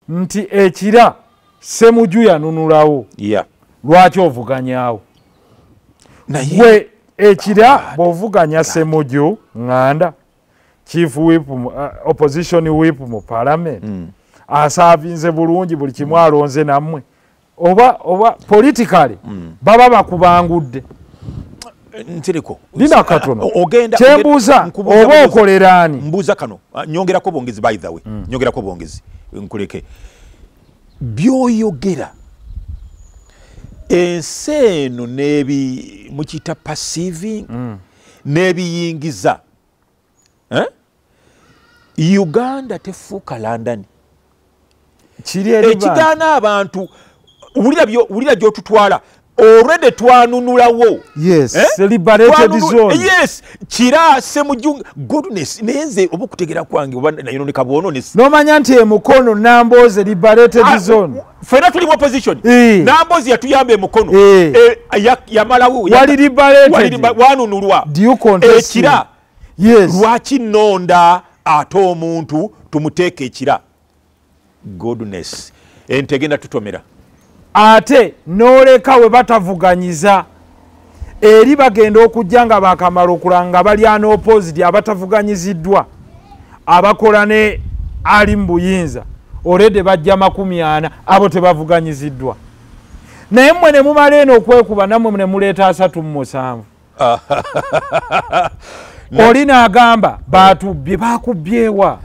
nti ekira semuju yanunulawo lwaki ovuganyawo gwe ekira ah, bwovuganya semuju nganda chief wip uh, opposition wip mu parliament mm. asaavinze bulungi buli kimu alonze nammwe oba oba politically mm. baba bakubangudde ntiriko lina katono ah, ogenda kyembuuza oba okolera ani mbuuza kano ah, nyongerako bwongezi by the way mm. nyongerako bwongezi nkuleke byoyogera ensi eno nebi mukiyita passiving mm. nebiyingiza eh? uganda tefuuka london ekigaana abantu wulira gyotutwala already twanunulawo yes eh? liberated zone yes kira semujung goodness nenze obukutegera kwange oba nayo ne kabono ne no manya nti emukono namboze liberated ah, zone fena tuli opposition e. namboze yatuyambe emukono e. e, yamalawo wali liberated wali wanunulwa do you contest ekira yes. lwaki nonda ate omuntu tumuteeka ekira goodness entegenda tutomera ate noleka we batavuganyiza eri bagenda okujja nga bakamala okulanga nga balya nopositi abatavuganyiziddwa abakola ne ali mu buyinza olede bajja makumi ana abo tebavuganyiziddwa naye mmwe ne mumala eno okwekuba nammwe ne muleeta asatu mu musanvu oli nagamba bantu byebakubyewa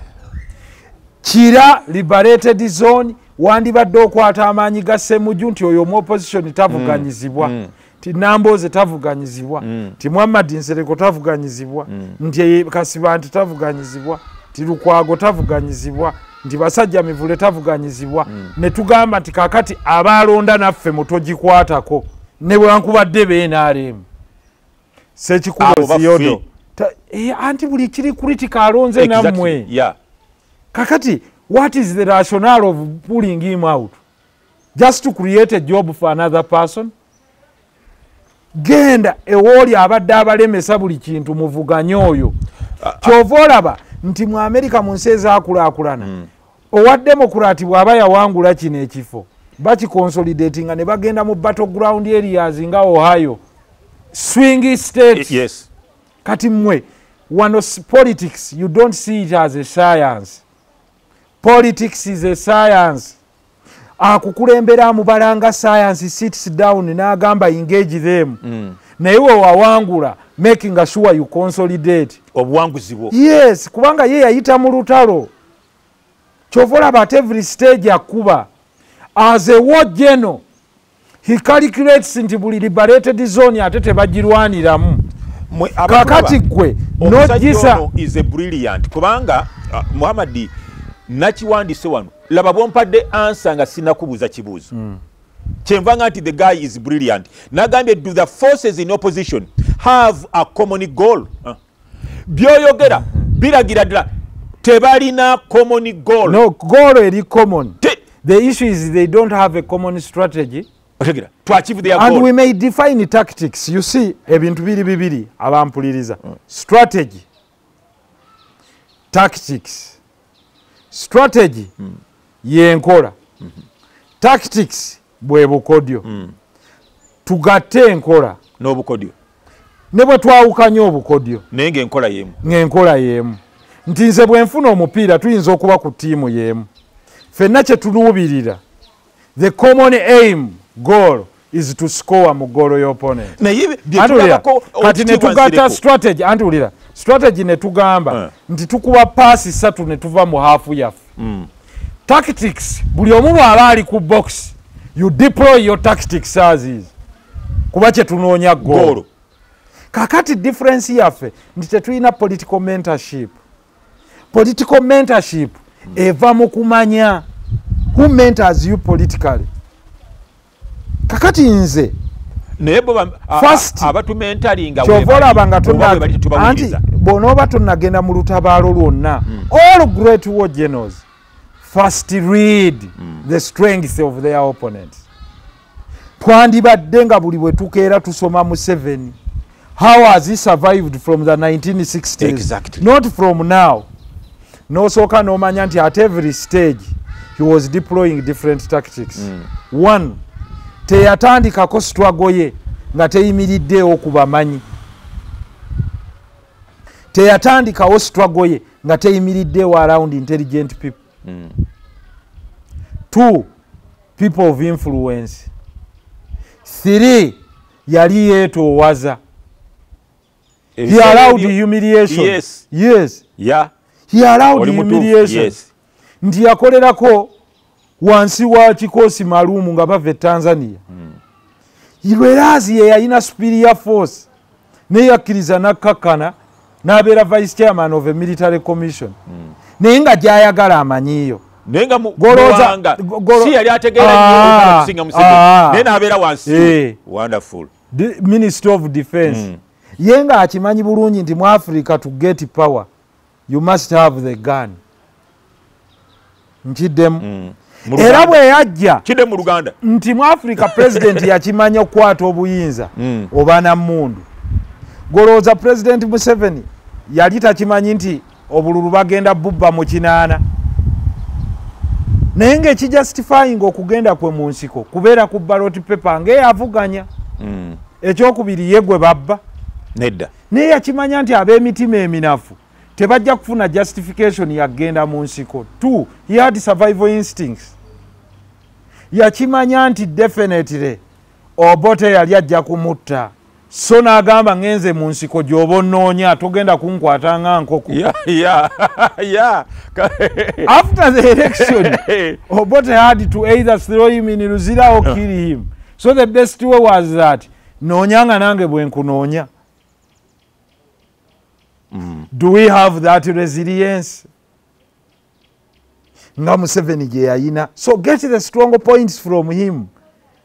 kira liberated zone wandibadde okwata amaanyi ga semuju nti oyo omu opposition tavuganyizibwa mm. mm. ti nambooze tavuganyizibwa mm. ti muhammad nsereko tavuganyizibwa mm. nti kasiba nti tavuganyizibwa ti lukwago tavuganyizibwa nti basajja mivule tavuganyizibwa mm. ne tugamba nti kakati abaalonda naffe mutogikwatako nebwankubadde benaremu sekikuboziyodo eh, anti buli kiri kritika alonze namwe kakati what is the rationale of pulling him out just to create a job for another person genda ewooli abadde abalemesa buli kintu muvuganye oyo ah, ah. kyova olaba nti mu amerika mu nsi ezakulakulana hmm. owa demokurati bw'aba yawangula kino ekifo bakikonsolidatinga ne bagenda mu battle ground areas nga ohio swing state yes. kati mmwe wano politics you don't see it as a science politics is a science akukulembera amubalanga science sits down n'agamba engage them mm. naye wewawangula making sure you consolidate obuwanguzi bwo yes kubanga ye yayita mu lutalo kyova olaba at every stage akuba as a war general he calculates nti buli liberated zone ate tebagirwaniramu kakati gwe nojisa is a brilliant kubanga uh, muhammadi nakiwandise wano laba bwompadde ansa nga sinakubuuza kibuuzo mm. kyenvanga nti the guy is brilliant nagambye do the forces in opposition have a common goal uh. byoyogera mhm. biragira ddala tebalina common goal no goal eri common Te the issue is they don't have a common strategy otegera to achieve their and goal. we may define tactics you see ebintu biri bibiri abampuliriza mm. strategy tactics strategy mm. yenkola mm -hmm. tactics bwe bukodyo mm. tugatte enkola n'obukodyo ne bwe twawukanya obukodyo naye ng'enkola y'emu ng'enkola y'emu nti nze bwe nfuna omupiira tuyinza okuba ku ttiimu y'emu fenna kye tuluubirira the common aim goal is to score mu goolo y'oponent kati ne tugatta strategy anti wulira strategy ne tugamba eh. nti tukuba paasi ssatu ne tuva mu haafu yaffe mm. tactics buli omu bwaba ali ku box you deploy your tactics as is kuba kyetunoonya goolo kakati difference yaffe nti tetulina political mentorship political mentorship eva mu kumanya who mentors you politically kakati nze naye boabatumentaliingakyova olaba nga anti bwonooba tonagenda mu lutabaalo lwonna hmm. all great war genos first read hmm. the strength of their opponent twandibadde nga buli bwetukeera tusoma museveni how has he survived from the 1960s exactly. not from now nosooka nomanya nti at every stage he was deploying different tactics mm. one teyatandikako struggle ye nga teyimiriddeewo ku bamanyi teyatandikawo struggle ye nga teyimiriddeewo around intelligent people mm. two people of influence three yali yetoowaza he allowed humiliation yes yes yeah he allowed humiliation yes nti yakolerako wansi wa kikosi malumu nga bava e tanzania hmm. lwerazi yeyalina superior force naye yakkiriza nakkakkana n'abeera vice chairman of a military commission hmm. naye nga gyayagala amanyiyo naye nga muwanga si yali ategeera ah, okusinga museveni ah. naye n'abeera wansi eh. wonderful ministry of defense hmm. ye nga akimanyi bulungi nti mu africa to get power you must have the gun nkiddemu mm. era bwe yajja kiddemu luganda nti mu africa pulezidenti yakimanya okukwata obuyinza mm. oba na mundu golowooza pulezidenti museveni yali takimanyi nti obululu bagenda bubba mu kinaana naye ngaekijustifyinga okugenda kwe mu nsiko kubeera ku baloti pepa ngaeyavuganya mm. ekyokubiri ye gwe babba nedda naye yakimanya nti ab'emitima eminafu tebajja kufuna justification yagenda mu nsiko t he had survival instincts yakimanya nti definitely obote yali ajja kumutta so nagamba ngenze mu nsiko gyoba onoonya togenda kunkwata nga nkoko after the election obote had to either throw him in luzira or kill him so the best way was that noonya nga nange bwenkunoonya mm. do we have that resilience nga museveni gye yayina so get the strong points from him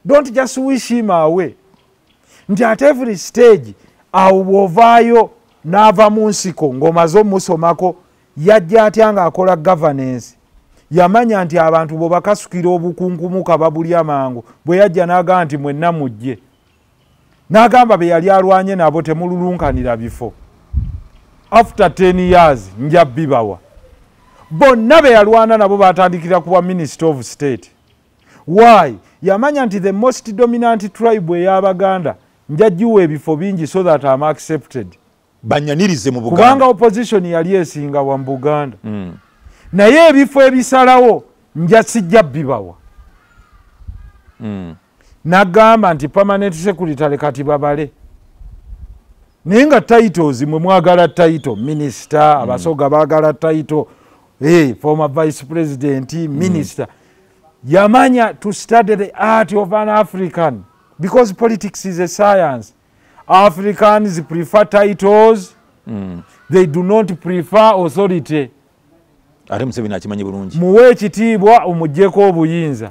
don't just wish him away nti at every stage awo bwovaayo n'ava mu nsiko ng'omaze omusomako yajja atya ng'akola governance yamanya nti abantu bwebakasukira obukunkumuka babulya mangu bwe yajja n'agaa nti mwenna mujje n'agamba be yali alwanye nabo temululunkanira bifo after 10 years nja bibawa bonna be yalwana nabo batandikira kuba minister of state why yamanya nti the most dominant tribe ey'abaganda njagiwa ebifo bingi so that am accepted banyanirize mu buganda kubanga opposition yali esinga wa mu buganda mm. naye ebifo ebisalawo nja sijja bibawa mm. nagamba nti permanent secretary kati babale naye nga titles mwe mwagala title minister mm. abasoga bagala title hey, eh, former vice president mm. minister mm. yamanya to study the art of an african because politics is a science africans prefer titles mm. they do not prefer authority ate museveni akimanyi bulungi muwe ekitiibwa omujeko obuyinza